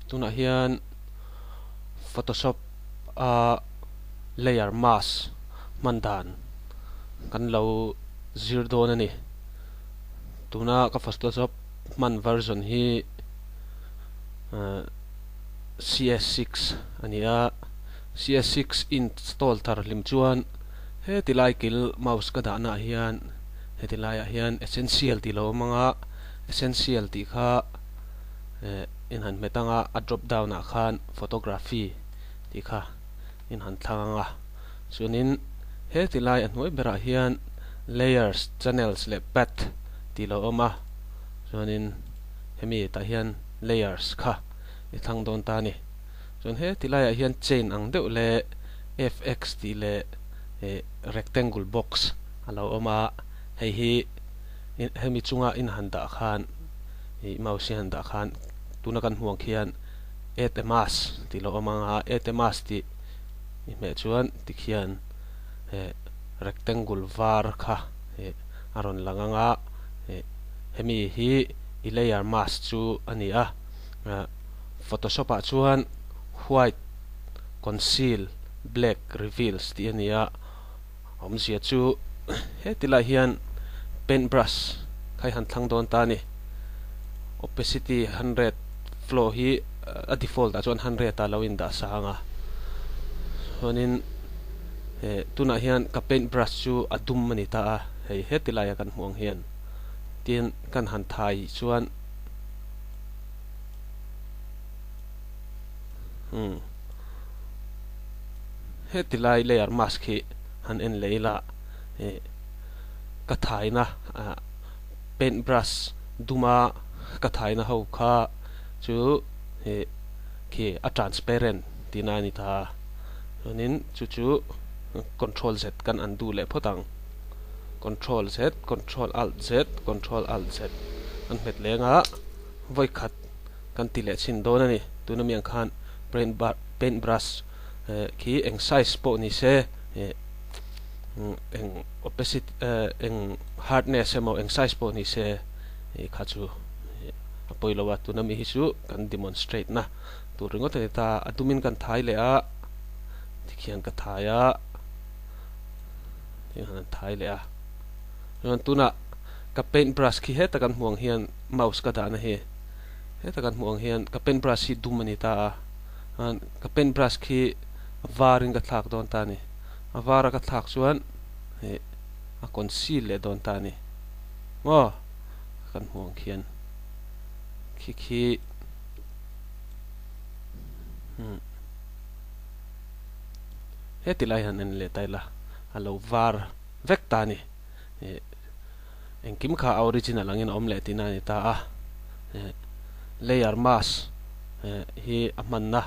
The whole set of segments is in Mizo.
tunah hian photoshop a layer mask hman dan kan lo zir dawn a ni tuna ka photoshop hman version hi c s six a ni a c s six install thar hlim chuan heti lai kil mouse ka dahnaah hian-- heti laiah hian essential tih lo awm ang a essential tih kha eh in han hmet ang a a drop down ah khan photography tih kha in han thlang ang a chuanin heti lai a hnuai berah hian layers channels leh path tih lo awm a chuanin hemi tah hian layers kha i thlang dawn ta a ni. chuan he ti laiah hian chain ang deuh leh fx tih leh eh rectangle box a lo awm a, hei hi hemi chunga in han dah khan ih mouse hi han dah khan tuna kan hmuh ang khian add a mask tih lo awm ang a, add a mask tih nih hmeh chuan tikhian eh rectangle var kha eh a rawn lang ang a, eh hemi hi i layer mask chu a ni a. Photoshop ah chuan white conceal black reveals tih a ni a, awmzia chu heti lah hian paint brush kha i han thlang dawn ta a ni, opacity hundred flow hi a default ah chuan hundred a lo in dah sang a, chuanin tunah hian ka paint brush chu a dum a ni ta a, hei heti laia kan hmuh ang hian tin kan han thai chuan. Hmm. He tilai layer mask hi han en lei la. E ka thai na a paint brush duma ka thai na ho kha chu he ki a transparent tina ni ta. Chuanin chu chu control z kan an du leh phawt ang. Control Z, Control Alt Z, Control Alt Z kan hmet leng a, vawi khat kan ti leh chhin dawn a ni. Tun ami ang khan paint brush khi eng size pawh ni se, eng opacity, eng hardness emaw eng size pawh ni se e kha chu a pawi lo a, tun ami hi chu kan demonstrate na tur ringawt a ni ta. A dumin kan thai leh a, tikhian ka thai a. hi han thai le a ran tuna ka paint brush khi heta kan muang hian mouse ka dana hi heta kan muang hian ka paint brush hi dum ani ta a han ka paint brush khi varin ka thlak don ta ni avara ka thlak chuan he a conceal le don ta ni mo kan muang khian khi khi hmm he ti lai han en leh ta ila a lo var vek ta ni eh engkim kha a original angin a awm leh tihna a ni ta a eh layer mask eh hi a hman na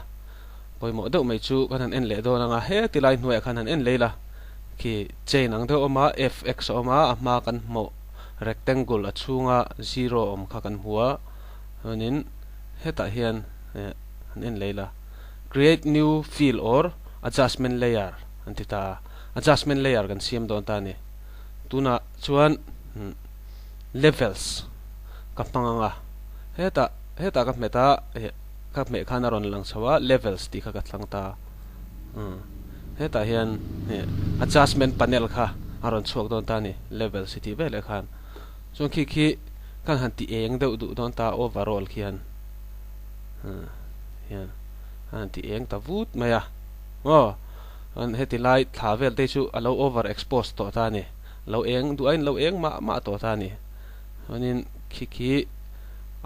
pawimawh deuh mai chu kan han en leh dawn anga he ti lai hnuaiah khan han en leh ila khi chain ang deuh a awm a fx a awm a a hma kan hmu rectangle a chhunga zero awm kha kan hmu a chuanin hetah hian eh han en leh ila. Create New Field or Adjustment Layer an ti ta a, Adjustment Layer kan siam dawn ta a ni. Tunah chuan Levels ka hmang ang a, hetah hetah ka hmet a, ka hmeh khan a rawn lang chho a, Levels tih kha ka tlang ta a. Hetah hian Adjustment Panel kha a rawn chhuak dawn ta a ni, Levels i tih vel e khan. Chuan khi khi kan han ti eng deuh duh dawn ta a, Overall khian hian an ti eng ta vut mai a aw an heti lai thla vel te chu a lo over expose tawh ta a ni lo eng duh a in lo eng mah mah tawh ta a ni chuanin khi khi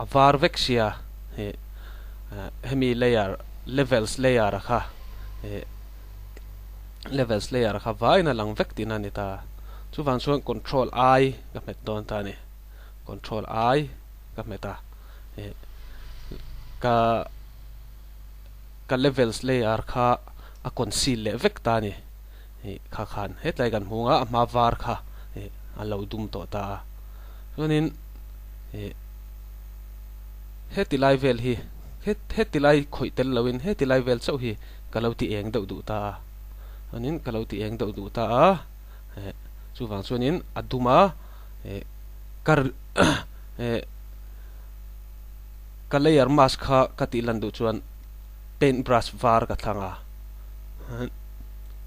a var vek sia he hemi layer levels layer a kha he levels layer a kha vain a lang vek tina ni ta chuvang chuan control i ka hmet dawn ta a ni control i ka hmet a eh ka ka levels layer kha a conceal leh vek ta ani eh kha khan hetlai kan hmung a a hma var kha eh a lo dum tawh ta a chuanin eh heti lai vel hi heti lai khawih tel lo in heti lai vel chauh hi ka lo ti eng deuh duh ta a chuanin ka lo ti eng deuh duh ta a eh chuvang chuan in a dum a. eh ka eh ka layer mask kha ka tih lan duh chuan paint brush var ka thlang a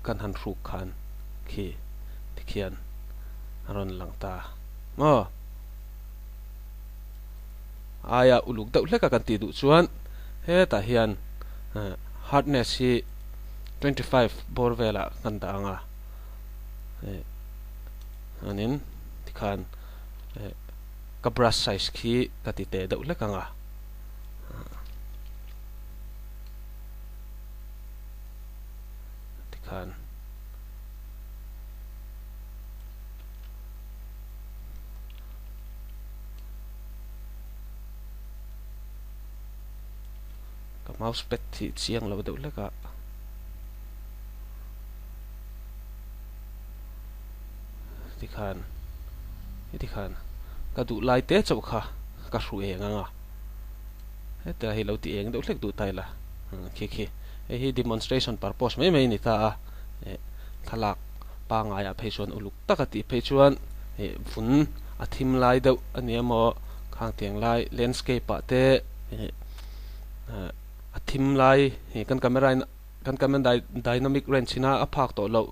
kan han hruk khan khi tikhian aron lang ta ma aya uluk deuh hleka kan ti duh chuan he ta hian eh, hardness hi 25 bor vela kan da anga eh, Chuanin tikhan eh ka brush size khi ka ti teh deuh hlek anga. Tikhan ka mouse pad hi chiang lo deuh hlek a. tikhan tikhan ka duh lai te chauh kha ka hru eng anga heta hi lo ti eng deuh hlek duh taila hmm, khi khi hei hi demonstration purpose mai mai ni ta a eh, thalak pangai a phei chuan uluk taka ti phei chuan eh, vun a thim lai deuh ani emaw khang tiang lai landscape a te eh, eh, a thim lai kan camera in Kan kan man dynamic range in a phak tawh loh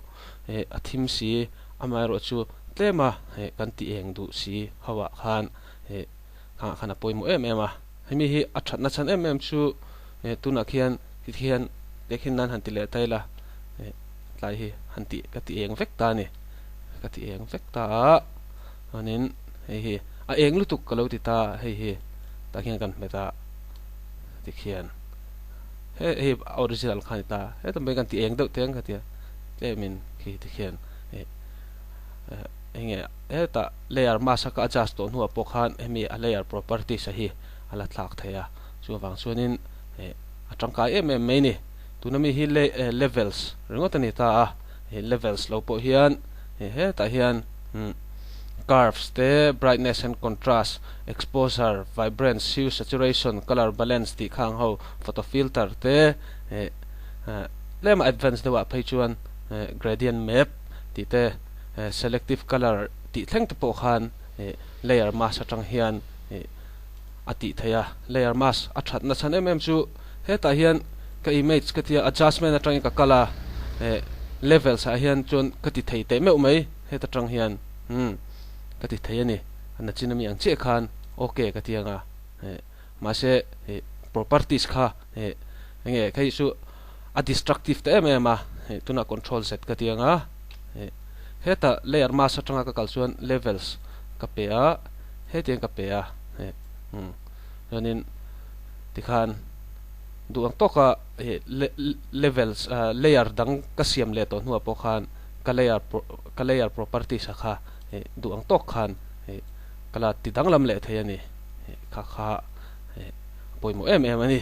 a thim si amaherawh chu tlem a kan ti eng duh si ho ah khan nghah khan a pawimawh em em a hemi hi a thatna chhan em em chu tunah khian hiti hian biakhin nan han ti leh ta ila tlai hi han ti ka ti eng vek ta a ni ka ti eng vek ta a chuanin hei hi a eng lutuk ka lo ti ta hei hi tah khian kan hme ta tikhian He hei a original kha a ni ta, hetlai mai kan ti eng deuh teng ka tia, tlem in khi ti khian hei eng nge hetah layer mask a ka adjust tawh hnuah pawh khan hemi a layer properties a hi a la thlak thei a, chunga vang chuanin hei a tangkai em em mai a ni, tuna mi hi levels ringawt a ni ta a, hei levels lo pawh hian hei hetah hian umm curves te, brightness and contrast, exposure, vibrance, hue, saturation, colour balance tih kha ang ho. Photo filter te eh tlema advance deuhah phei chuan eh gradient map tih te eh selective colour tih thleng te pawh khan eh layer mask atang hian eh a tih theih a. Layer mask a that nachhan em em chu hetah hian ka image ka tia adjustment atangin ka kal a eh levels ah hian chuan ka ti thei teh meuh mai heta tang hian umm ka ti thei a ni nachina mi ang chiah khan ok ka ti anga eh. Mahse, hei properties kha hei eng nge kha hi chu a destructive ta em em a, hei tunah control z ka ti ang a, hei heta layer mask atanga ka kal chuan levels ka pe a, hetiang ka pe a, hei umm chuanin tikhan duh ang tawka hei levels ah layer dang ka siam leh tawh hnuah pawh khan ka layer ka layer properties a kha hei duh ang tawk khan hei. ka la ti danglam leh thei a ni, kha kha pawimawh em em a ni.